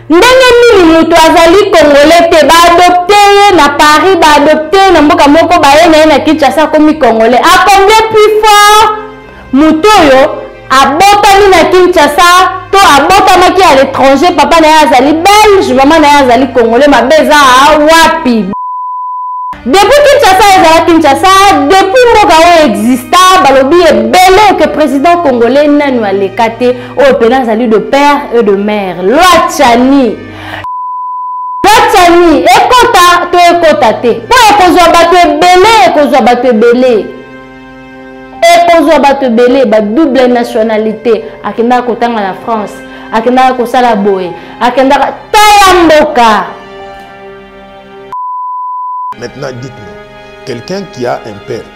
ndenge nini moto azali kongole te baadopte ye na paris baadopte ye na mboka moko baye na ye na kinshasa akomi kongole akomble plus fort moto oyo abotami na kinshasa to abotamaki à l'étranger papa na ye azali belge mama na ye azali kongole mabe eza wapi depuis kinshasa ezala kinshasa depuis mboka oyo exista balobi ebele ke président congolais nanu aleka te oyo mpena azali de père et de mère loi chani loi chani ekota to ekota te mpo ekozwa bato ebele ekozwa bato ebele ekozwa bato ebele ba double nationalité akendaka kotanga na france akendaka kosala boye akendaka tala mboka maintenant dites-moi quelqu'un qui a un père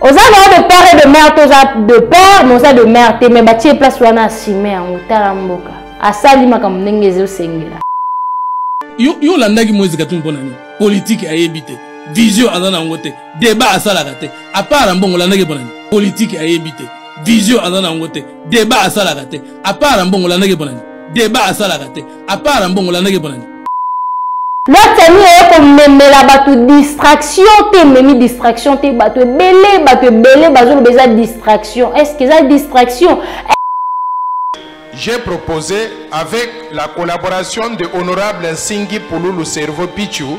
oza nao de père et de mère te oza de père mais oza de mère te mais batie place wana asime yango tala mboka asali makambo ndenge ezosengela yo, yo olandaki moise katumbi mpo na nini politike ayebi te vision aza na yango te debat asalaka te apart na mbongo olandaki mpo na nini politike ayebi te vision aza na yango te debat asalaka te apart na mbongo olandaki mpo na nini debat asalaka te apart na mbongo olandaki mpo na nini lwatani eye komemela bato distraction te ememi distraction te bato ebele bato ebele bazoloba eza distraction est ce que eza distraction j'ai proposé avec la collaboration de honorable nsingi pululu cerveau pichu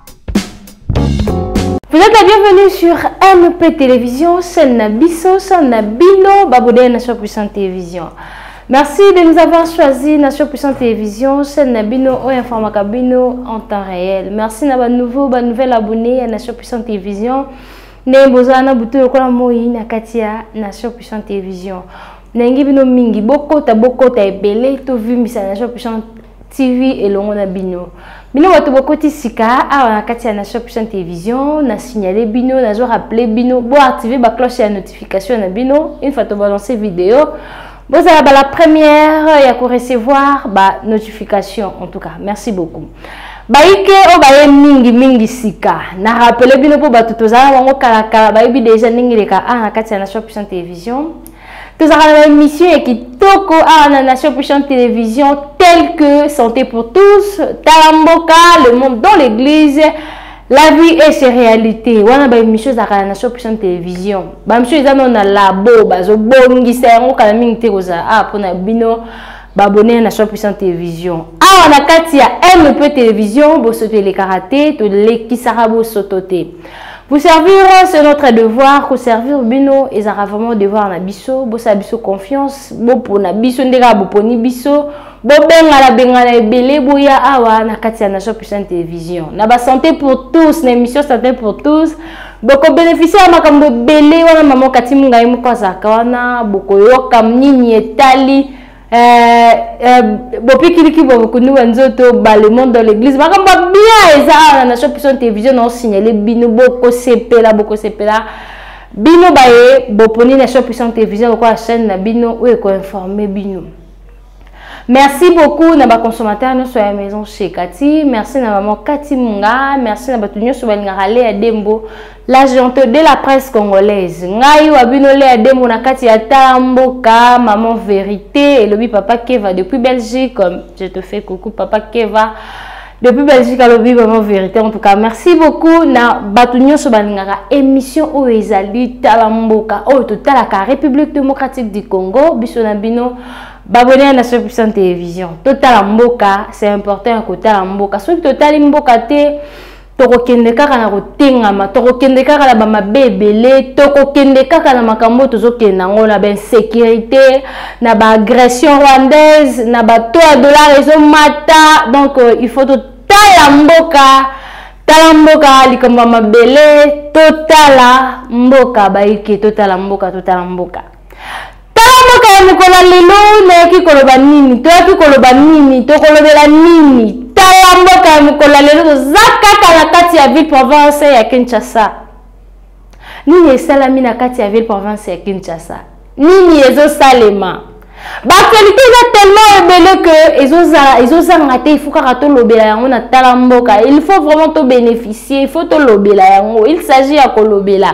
Vous êtes la bienvenue sur MP Télévision, chaîne Nabiso, chaîne Nabino, Babodé Nation Puissante Télévision. Merci de nous avoir choisi Nation Puissante Télévision, chaîne Nabino, ou Informa Cabino en temps réel. Merci à nouveau, à nouvel abonné à Nation Puissante Télévision. Né Bozana Boutou, Yokola Moï, Nakatia, Nation Puissante Télévision. Nengi Bino Mingi, Bokota, Bokota, Ebele, Tovumbisa, Nation Puissante TV elongo na bino. Bino bato bokoti sika awa na kati ya Nation Puissante Télévision, na signaler bino, na zo rappeler bino, bo activer ba cloche ya notification na bino une fois to balancer vidéo. Bozala ba la première ya ko recevoir ba notification en tout cas. Merci beaucoup. bayike oyo baye mingi mingi sika na rappele bino mpo bato tozala bango kalakala bayebi deja ndenge eleka a na kati ya nation puissant télévision tozalaka na baémission ya kitoko awa na nation puissante télévision telle que santé pour tous tala mboka le monde dans l'église la vie est ses réalité wana baémission ezalaka na nation puissante télévision baémission eza nao na labo bazobongisa yango kala mingi te kozala awa mpo na bino baabone ya nation puissante télévision awa na kati ya mpe télévision bosoto elekaka te tolekisaka bosoto te Vous servir, c'est notre devoir. Vous servir bino, ils aura vraiment devoir na biso. Bo sa biso confiance, bo pona biso ndeka bo poni biso. Bo benga la benga la ebele bo ya awa na katia na shop puissante télévision. Na ba santé pour tous, na émission santé pour tous. Boko bénéficier ya makambo ebele wana maman Kati Mungai moko azaka wana boko yoka nini etali Eh, eh, bopikiliki bwa bokundi bwa nzoto balemon dans l'église makambo ya bien eza awa na nation puissante télévision na osignale bino bokosepela bokosepela bino baye boponi nation puissante télévision lokola chaîne na bino oyo ekoinforme bino merci beaucoup na baconsommateur nyonso ya maison chez kati merci na maman kati munga merci na bato nyonso balingaka lea dembo La gente de la presse congolaise. Ngai wa bino lea demo na kati ya tala mboka, maman verite, elobi papa Keva depuis Belgique. Je te fais coucou papa Keva. Depuis Belgique alobi maman verite. En tout cas, merci beaucoup na batu nyoso balingaka émission oyo ezali tala mboka oyo totalaka République démocratique du Congo biso na bino babone na Soeur Puissante Télévision. Totala mboka, c'est important ya kotala mboka. Soki totali mboka te, tokokende kaka na kotengama tokokende kaka na bamabe ebele tokokende kaka na makambo oyo tozokende yango na bainsécurité na baagression rwandaise na bato ya dollar ezomata donc euh, il faut totala mboka tala mboka likambo ya mabele totala mboka bayike totala mboka totala mboka tala mboka ya mokolo ya lelo nayoki koloba nini toyaki koloba nini tokolobela nini tala mboka ya mokolo ya lelo toza kaka na kati ya ville province ya kinshasa nini esalami na kati ya ville province ya kinshasa nini ezosalema baaktualité eza tellement ebele ke ezozanga te ifo kaka tolobela yango na tala mboka il faut vraiment tobénéficie il faut tolobela yango il s'agit ya kolobela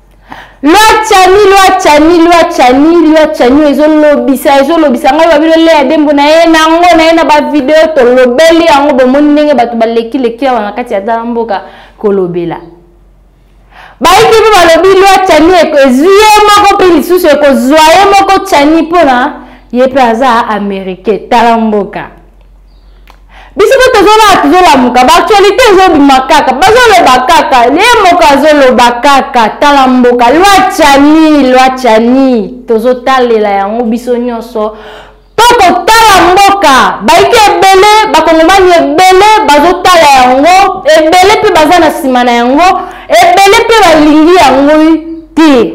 lwa chani lwa chani lwa chani lwa chani ezolobisa ezolobisa ngai babino leya dembo na ye nango na ye na bavideo tolobeli yango bomoni ndenge bato balekileki awa na kati ya tala mboka kolobela bayiki mpe balobi lwa chani ezwi ye moko mpe lisusu ekozwa ye moko chani mpona ye mpe aza americain tala mboka biso mpe tozolala tozolamuka baaktualité ezobima kaka bazoloba kaka ye moko azoloba kaka tala mboka lwa chani lwa chani tozotalela yango biso nyonso mpo kotala mboka baike ebele bakongomani ebele bazotala yango ebele mpe baza na nsima na yango ebele mpe balingi yango te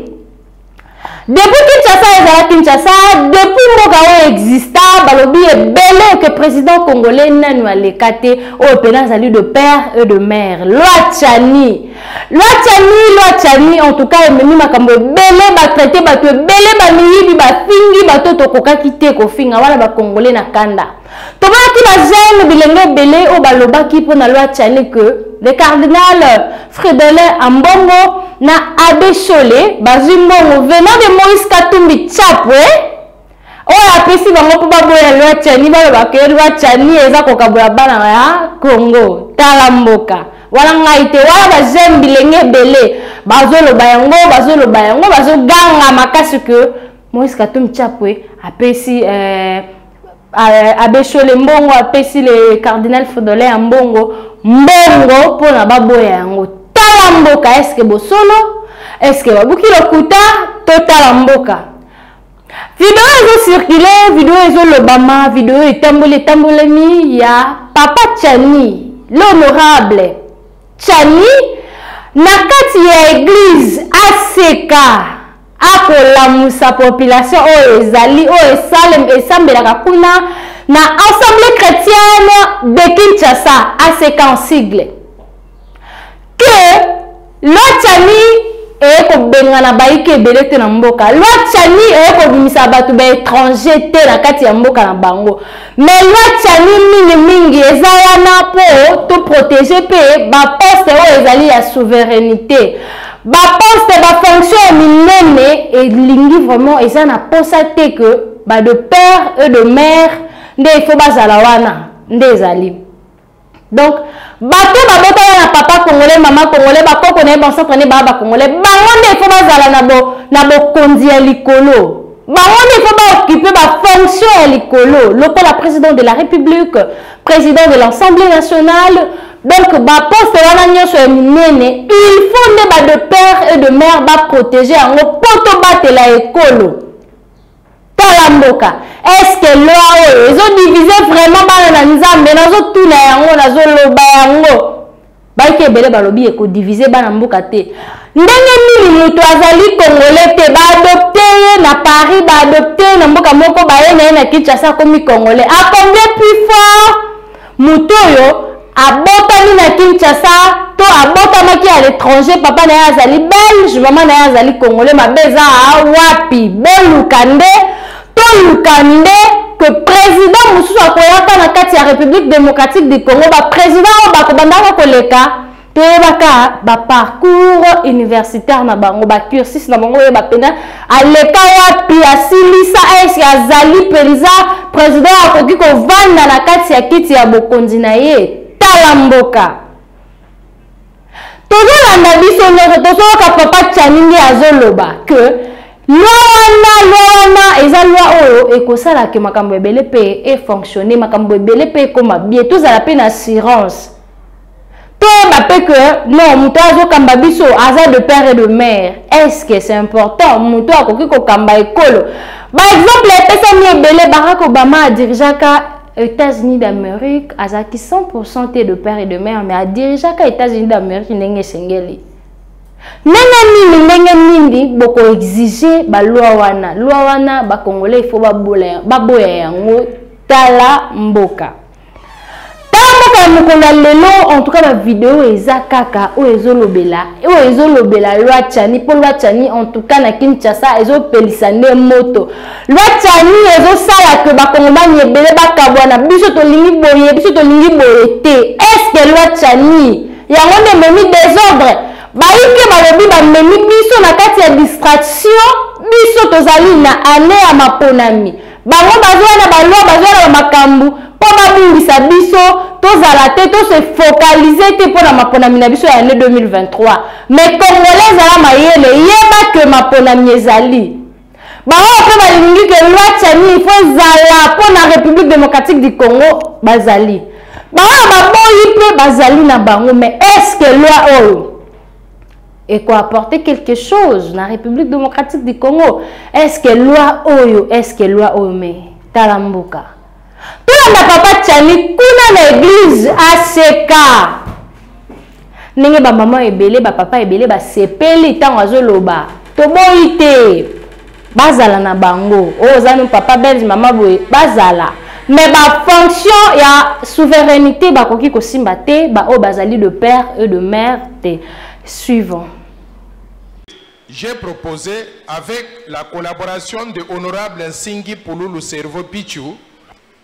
depuis kinshasa ezala kinshasa depuis mboka oyo exista balobi ebele ke président congolais nanu aleka te oyo mpena azali de père et de mère loi chani loi chani loi chani en tout cas ememi makambo ebele batraite bato ebele bamiyibi bafingi bato tokokaki te kofinga wana bacongolais na kanda tomonaki ba jeune bilenge ebele oyo balobaki mpo na loi chani que le cardinal fridolin ambongo na abe shole bazwi mbongo venant de moïse katumbi chapwe oyo apesi bango mpo baboya loi chani baloba ke loi chani eza kokabola bana ya congo tala mboka wana ngai te wana bajeune bilenge ebele bazoloba yango bazoloba yango bazoganga makasi ke moïse katumbi chapwe apesi eh, Euh, abe shole mbongo apesi le cardinal fodolin ya mbongo mbongo mpo na baboya yango tala mboka eske bosolo eske babuki lokuta totala mboka video ezocircule video ezolobama video etamboli etambolami ya papa chani l'honorable chani na kati ya eglize aseka akolamusa population oyo ezali oyo esalem esambelaka kuna na assemblée chrétienne de kinshasa aseka en sigle que loi chani eye kobengana bayike ebele te na mboka loi chani eye kobimisa bato baétranger te na kati ya mboka na bango Mais loi Tchani mingi mingi eza wana po to protéger pe ba poste oyo ezali ya souveraineté. Ba poste ba fonction ya minene elingi vraiment eza na posa te que ba de père et de mère nde il faut bazala wana nde ezali. donc bato babotaka na papa congolais mama congolais bakoko na ye bansotre nde baa bacongolais bango nde ifo bazala na bokonzi ya likolo bango nde ifo baokipe bafonction ya likolo lokola président de la république président de l'assemblée nationale donc baposte wana nyonso ya minene il faut nde ba de père et de mère baprotege yango mpo tobatela ekolo tala mboka eske loi oyo ezodivise vraiment bana na nzambe nazotuna yango nazoloba yango baiki ebele balobi ekodivise bana mboka te ndenge nini moto azali kongole te baadopte ye na paris baadopte ye na mboka moko baye na ye na kinshasa akomi kongole akombie plus fort moto oyo abotami na kinshasa to abotamaki à l'étranger papa na ye azali belge mama na ye azali congolais mabe eza wapi boluka nde toluka nde que président mosusu akoyaka na kati ya république démocratique du congo baprésident oyo bakobandaka koleka toyebaka ba parcours universitaire na bango ba cursus na bango oyeba mpenza aleka wapi asilisa eske azali mpenza president akoki kovanda na kati ya kiti ya bokonzi na ye tala mboka tozolanda biso nyonso tozoyoka papa chani nde azoloba ke lwa wana lwa wana eza lwa oyo ekosala ke makambo ebele mpe efonctionne makambo ebele mpe ekoma bie tozala mpe na assurance toyeba mpe que non moto oyo azokamba biso aza de père et de mère est ce que c'est important moto oyo akoki kokamba ekolo baexemple epesami ebele barack obama adirigeaka états-unis d'amérique azalaki 100 te de père et de mère mais adirigeaka états-unis d'amérique ndenge esengeli ndenge nini ndenge nini bokoexige balwa wana lwa wana bakongolais ifo baboya yango tala mboka kaka mokolo ya lelo en tout cas ba video eza kaka oyo ezolobela oyo ezolobela loi chani mpo loi chani en tout cas na kinshasa ezopelisa nde moto loi chani ezosala ke bakongomani ebele bakabwana biso tolingi boye biso tolingi boye te estce loi chani yango nde ememi desordre bayike balobi bamemi biso na kati ya distraction biso tozali na ane ya maponami bango bazoya na balwa bazoya na bamakambo mpo babungisa biso tozala te tose focalize te mpo na maponami na biso ya année 2023 mais congolais ezala mayele yeba ke maponami ezali baoyo mpe balingi ke loi chani ifo ezala mpo na république démocratique du congo bazali baoyo baboyi mpe bazali na bango mais est ce que loi oyo et quoi apporter quelque chose na République démocratique du Congo est-ce que loi oyo est-ce que loi oyo mais tala mboka tolanda papa Tchani kuna na église ACK ndenge bamama ebele bapapa ebele basepeli ntango azoloba toboyi te bazala na bango oyo oh, oza no papa belge mama boye bazala mais bafonction ya souveraineté bakoki kosimba te baoyo oh, bazali de père et de mère te suivant j'ai proposé avec la collaboration de honorable nsingi pululu cerveau pichu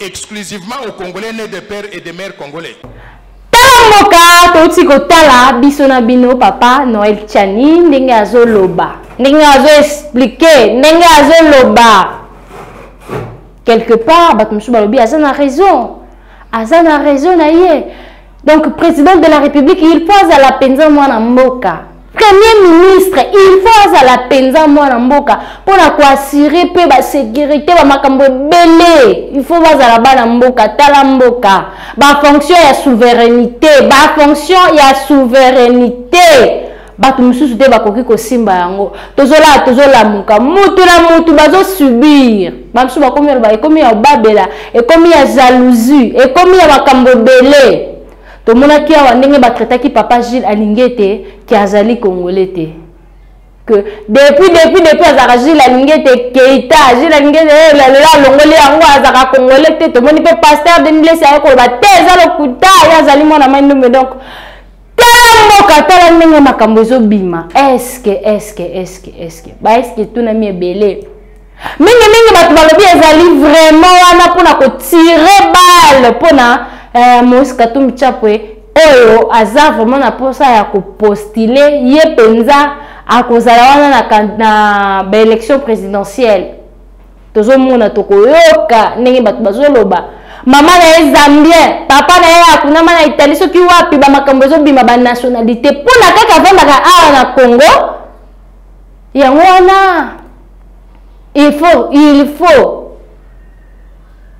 exclusivement aux Congolais nés de père et de mère congolais. Tangoka touti kotala biso na bino papa Noël Tchani ndenge azoloba ndenge azo expliquer ndenge azoloba quelque part bato mosusu balobi aza na raison aza na raison na ye donc président de la république il faut azala mpenza mwana mboka premier ministre il faut azala mpenza mwana mboka mpo na koassure mpe basécurité bamakambo ebele il faut bazala bana mboka tala mboka bafonction ya souveraineté bafonction ya souveraineté bato mosusu te bakoki kosimba yango tozolaa tozolamuka mutu na mutu bazosubir bamosusu bakomi aloba ekomi ya obabela ekomi ya jalousie ekomi ya makambo ebele tomonaki awa ndenge batraitaki papa gile alingi ete ke azali kongole te que depuis depuis depuis azalaka jules alingi ete keita jules alingi ete eh, lelo alongoli yango azalaka congolais te tomoni mpe pasteur denilesi aye koloba te eza lokuta ye azali mwana mai ndumbe donc tala mboka tala ndenge makambo ezobima eske eske eske eske baeske etunami ebele mingimingi bato balobi ezali vraiment wana mpona kotire bale mpona eh, moïse katumbi chapwe oyo aza vraiment na mposa ya kopostile ye mpenza akozala wana na, na baélection présidentielle tozomona tokoyoka ndenge bato bazoloba mama na ye zambien papa na ye akunama na italie soki wapi bamakambo ezobima banationalité mpo na kaka avandaka awa na congo yango wana il faut il faut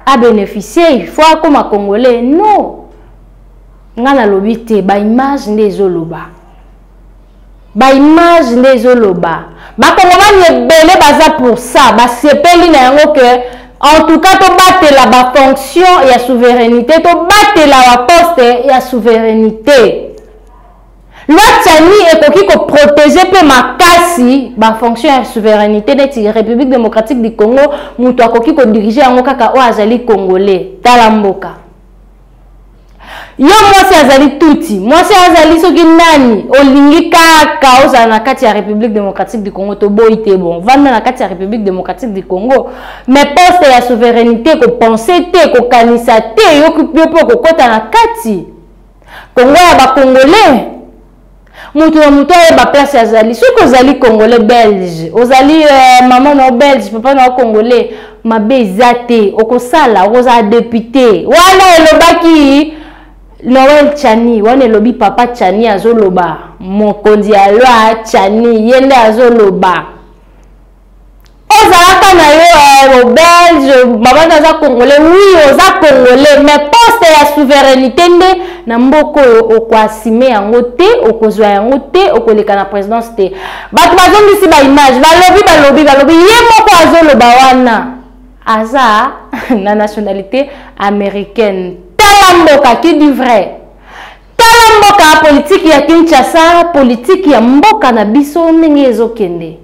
abénéficie il faut akoma congolais non ngai nalobi te baimage nde ezoloba ba image nde ezoloba bakongomani ebele baza pour ça basepeli na yango ke en tout cas tobatela bafonction ya souveraineté tobatela baposte ya souveraineté loi tsani ekoki koprotege mpe makasi bafonction ya souveraineté neti république démocratique du congo moto akoki kodirige yango kaka oyo azali congolais tala mboka yo mwasi azali tuti mwasi azali soki nani olingi kaka ozala na kati ya république démocratique du congo toboyi te bon vanda na kati ya république démocratique du congo mais poste ya souveraineté kopense te kokanisa te yo mpe okokɔta na kati kongo ya bakongolais moto na moto ayeba place azali soki ozali congolais belge ozali uh, mama na yo belge papa na yo congolais mabe eza te okosala okozala depute wana elobaki noel chani wana elobi papa chani azoloba mokonzi ya loi chani ye nde azoloba ozalaka na yo eh, belge mama na aza congolais oui oza congolais mais poste ya souveraineté nde na mboka oyo okoasime yango te okozwa yango te okoleka na présidence te bato bazongisi baimage balobi balobi balobi ye moko azoloba wana aza na nationalité américaine tala mboka qui du vrai tala mboka politiki ya kinshasa politiki ya mboka na biso ndenge ezokende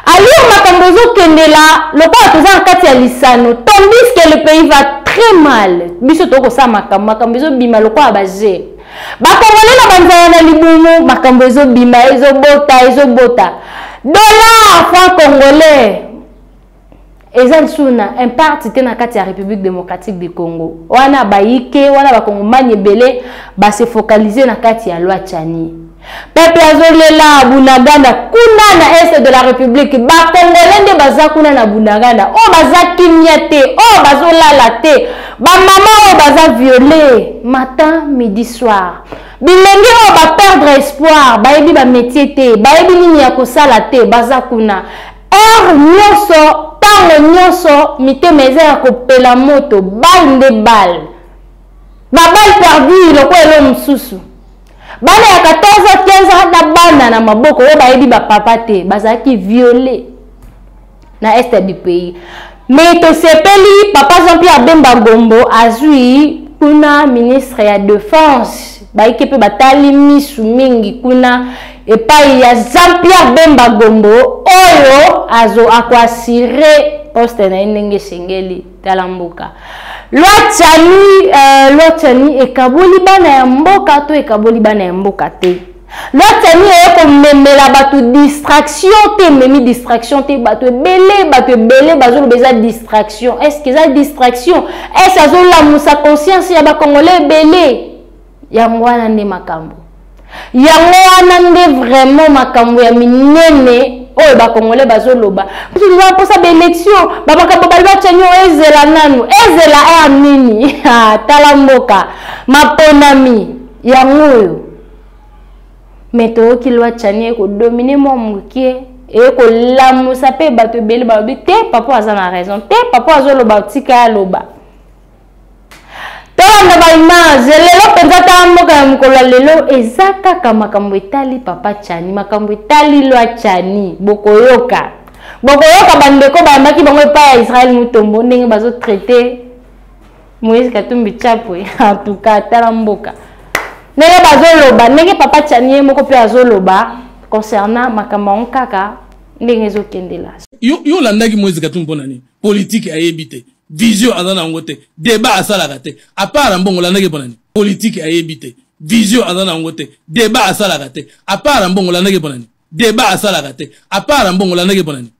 Aliyo makambo ezo kende la lokola toza na kati ya lisano tandis que le pays va très mal biso toko sa makambo makambo ezo bima lokola ba jeu ba congolais na banzala na libumu makambo ezo bima ezo bota ezo bota dollar franc congolais eza lisusu na imparte te na kati ya république démocratique du congo wana bayike wana bakongomani ebele base focalise na kati ya loi chani pepe azolela bunagana kuna na est de la république bakongole nde baza kuna na bunagana oyo oh, baza kimia te oyo oh, bazolala te bamama oyo oh, baza viole matin midi soir bilenge oyo baperdre espoir bayebi bametie te bayebi nini ya kosala te baza kuna Heure nionso, tango nionso, mitema eza ya kopela moto, balle nde balle. Ba balle perdue lokola elo mosusu. Bana ya 14 ans, 15 ans na bana na maboko oyo bayebi ba papa te, bazalaki violer na est du pays. Mais tosepeli papa Jean Pierre Bemba Gombo azui kuna ministre ya defense bayike mpe batali misu mingi kuna epai ya jean pierre bemba gombo oyo azo akoasire poste na ye ndenge esengeli tala mboka lwa cani uh, lwa cani ekaboli bana ya mboka to ekaboli bana ya mboka te La tani eye komemela bato distraction te ememi distraction te bato ebele bato ebele bazoloba eza distraction est ce que eza distraction est ce azolamusa conscience ya bacongolais ebele yango wana nde makambo yango wana nde vraiment makambo ya minene oyo bakongole bazoloba biso toza na mposa baelektio bamakambo bali bacanio ezela nanu ezela air nini ah, tala mboka maponami yango oyo me toyoki lwa chani ekodomine mwa mokie eye kolamusa mpe bato ebele balobi te papa aza na raison te papa azoloba tika ya loba tolanda baimage lelo mpenza ta mboka ya mokolo ya lelo eza kaka makambo etali papa chani makambo etali lwa chani bokoyoka bokoyoka bandeko bayambaki bango epai ya israel mutombo ndenge bazotraite moïse katumbi chapwe antuka tala mboka ndenge bazoloba ndenge papa tiani ye moko mpe azoloba concernant makambo yango kaka ndenge ezokendela yo, yo olandaki moïse katumbi mpo na nini politike ayebi te vision aza na yango te debat asalaka te apart mbongo olandaki mpo na nini politike ayebi te vision aza na yango te debat asalaka te apart mbongo olandaki mpo na nini debat asalaka te apart mbongo olandaki mpo na nini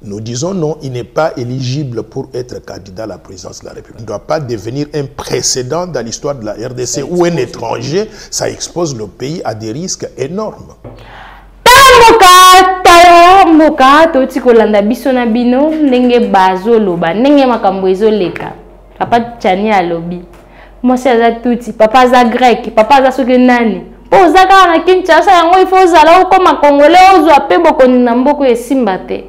Nous disons non, il n'est pas éligible pour être candidat à la présidence de la République. Il ne doit pas devenir un précédent dans l'histoire de la RDC ou un étranger. Ça expose le pays à des risques énormes. mboka touti kolanda biso na bino ndenge bazoloba ndenge makambo ezoleka papa chani alobi mwasi aza tuti papa aza grec papa aza soki nani mpo oza kaka na kinshasa yango ifo ozala okoma kongole ozwa mpe bokoni na mboka oyo esimba te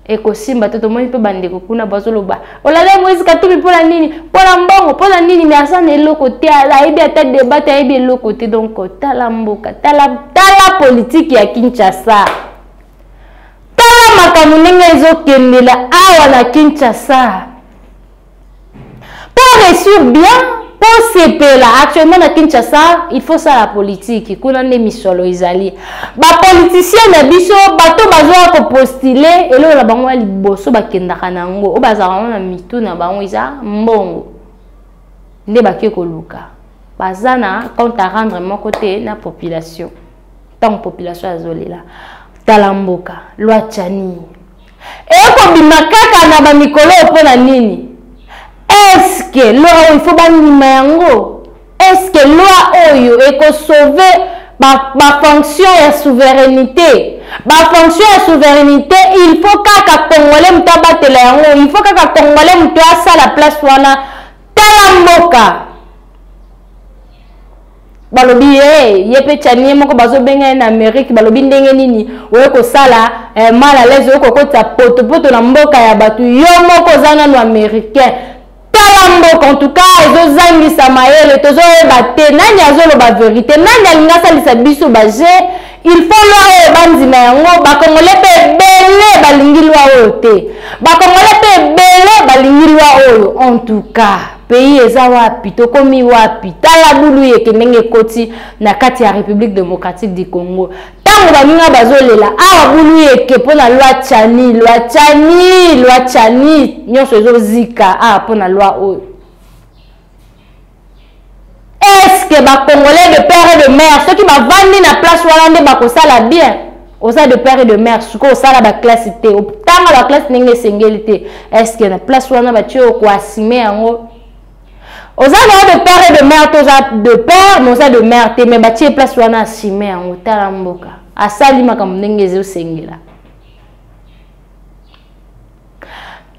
ekosimba te tomoni mpe bandeko kuna bazoloba olala moise katumbi mpo na nini mpo na mbongo mpo na nini mais aza na eloko te ayebi ata debat te ayebi eloko te donc tala mboka tala tala politike ya kinshasa tala makambo ndenge ezokendela awa na kinshasa Pour réussir bien, pour sepela, actuellement na Kinshasa, il faut ça la politique. Kuna nde misolo ezali. Ba politiciens na biso, bato bazoya ko postuler, eloko na bango ya liboso bakendaka na yango, oyo bazalaka na mitu na bango eza mbongo. Nde bake koluka. Baza na compte à rendre moko te na population. Ntango population azolela. Tala mboka, loi Tchani, ekobima kaka na bamikolo oyo mpo na nini eske loi oyo ifo bandima yango eske loi oyo ekosauve bafonction ba ya souverainité bafonction ya souverainité il faut kaka congolais moto abatela yango il faut kaka congolais moto asala place wana tala mboka balobi ye ye mpe chanie moko bazobenga ye na amerike balobi ndenge nini oye kosala eh, mal à l'aise oye kokotisa potopoto na mboka ya bato yo moko oza nano américain tala mboka en tout cas ezozangisa mayele tozoyeba te nani azoloba verité nani alingi asalisa biso baje il faut loi oyo bandima yango bakongole mpe ebele balingi loi oyo te bakongole mpe ebele balingi loi oyo en tout cas pays eza wapi tokomi wapi tala bulu yeke ndenge ekoti na kati ya république démocratique du congo ntango baninga bazolela awa ah, bulu yeke mpo na loi chani loi chani loi chani nyonso ezozika awa ah, mpo na loi oyo est-ce que ba congolais de père et de mère soki bavandi na place wana nde bakosala bien oza de père et de mère sikoyo osala baklasse te otanga baklasse ndenge esengeli te est-ce que na place wana batie yo koasime yango oza naa de père et de mère to oza de père mais oza de mère te mais batie place wana asime yango tala mboka asali makambo ndenge ezosengela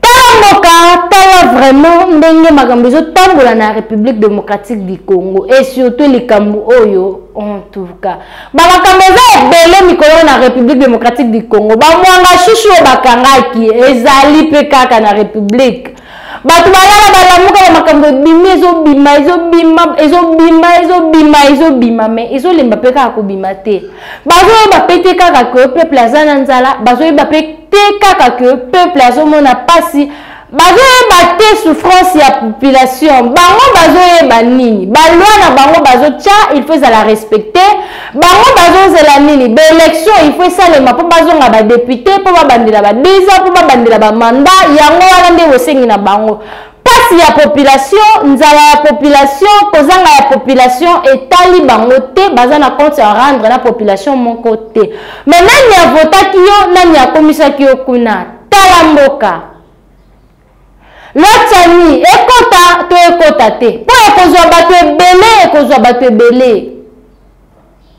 tala mboka tala vraiment ndenge makambo ezotambola na république démocratique du congo et surtout likambo oyo en tout cas bamakambo eza ebele mikolo na république démocratique du congo bamwanga shushu oyo bakangaki ezali mpe kaka na république bato balala balamuka na makambo ebimi ezobima ezobima ezobima ezobima ezobima me ezolemba mpe kaka kobima te bazoyeba mpe te kaka ke peuple aza na nzala bazoyeba mpe te kaka que peuple azomona pasi bazoyeba te souffrance ya population bango bazoyeba nini baloi na bango bazotya il faut ezala respecte bango bazozela nini baélection il faut esalema mpo bazonga badepute mpo babandela badeza mpo babandela bamanda yango wana nde bosengi na bango Pasi ya population, nzala ya population, kozanga ya population etali bango te, baza na compte ya rendre na population moko te. Mais nani avotaki yo, nani akomisaki yo kuna? Tala mboka. Lotani ekota to ekota te. Po ekozwa bato ebele, ekozwa bato ebele.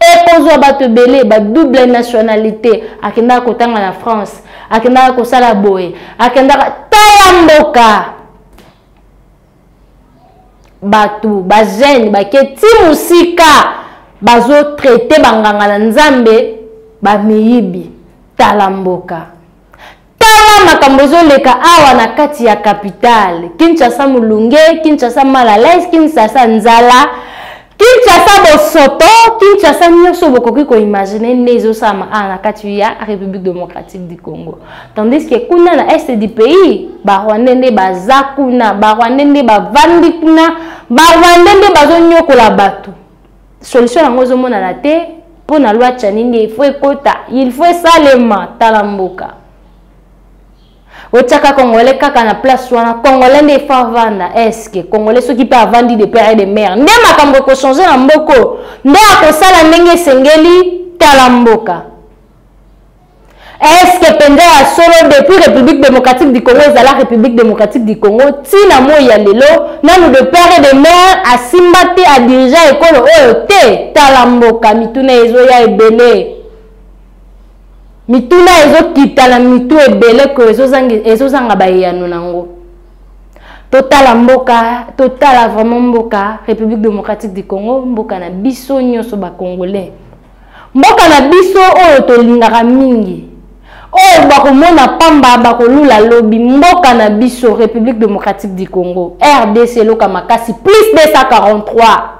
ekozwa bato ebele ba double nationalité akendaka kotanga na france akendaka kosala boye akendaka tala mboka bato bajeune bake ti mosika bazotraite banganga na nzambe bamiyibi tala mboka tala makambo ezoleka awa na kati ya capitale kinshasa molunge kinshasa malalais kinshasa nzala kinshasa bosoto kinshasa nyonso bokoki koimagine nde ezosalama awa na kati ya république démocratique du congo tandis ke kuna na est du pays barwandais nde baza kuna barwandais nde bavandi kuna barwandais nde bazonyokola bato solution yango ezomonana te mpo na lwa chani nde ifo ekota ilfo esalema tala mboka otyaka congolais kaka na place wana congolais nde ifo avanda eske congolais soki mpe avandi de pere de mare nde makambo ekochange na mboko nde akosala ndenge esengeli tala mboka eske mpenza ya solo depuis république démocratique du congo ezala république démocratique du congo ntina moi ya lelo nanu de père et de mare asimba te adirigea ekolo oyo te tala mboka mituna ezoya ebele mituna ezokita na mitu ebele ko ezozanga bayano na yango totala mboka totala vraiment mboka république démocratique du congo mboka na biso nyonso bacongolais Mboka na biso oyo tolingaka mingi, oyo bakomona pamba bakolula lobi, mboka na biso Republique Democratique du Congo, RDC eloka makasi plus 243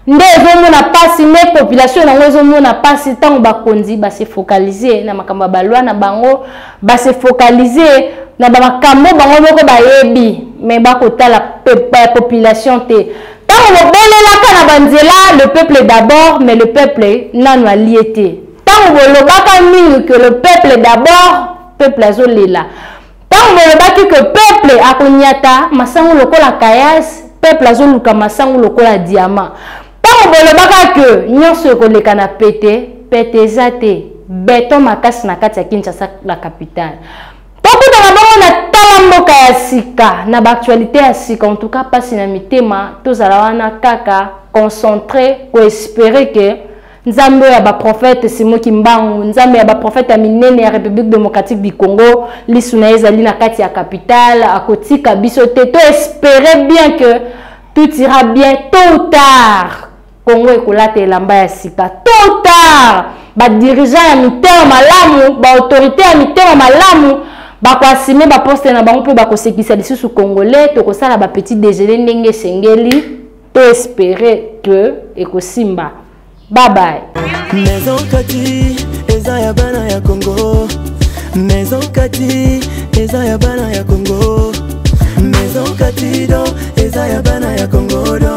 nde ezomona pasi nde population yango ezomona pasi ntango bakonzi base focalize na makambo ya balwa na bango base focalize na bamakambo bango moko bayebi me bakotala population te Tango bobelelaka na banzela le peuple d'abord mais le peuple nanu alie te. Tango bolobaka mingi que le peuple d'abord peuple azolela. Tango bolobaki que peuple akonyata masangu lokola kayas peuple azoluka masangu lokola diamant. Tango bolobaka que nyonso ekoleka na pete pete eza te beton makasi na kati ya Kinshasa la capitale. tokutana bongo na tala mboka ya sika na baactualité ya sika en tout cas mpasi na mitema tozala wana kaka concentre koespere ke nzambe oyo ya baprofete simo kimbangu nzambe ya baprofete ya minene ya république démocratique du congo lisu na ye ezali na kati ya capitale akotika biso te toespere bien ke tout ira bien tôt ou tard Congo ekolata elamba ya sika tôt tard badirigeant ya mitema malamu baautorité ya mitema malamu bakoasime baposte na bango mpe bakosekisa lisusu congolais tokosala bapetit déjeuner ndenge esengeli to espere que ekosimba babaye maison kati eza ya bana ya congo maison kati eza ya bana ya congo maison kati do eza ya bana ya congo do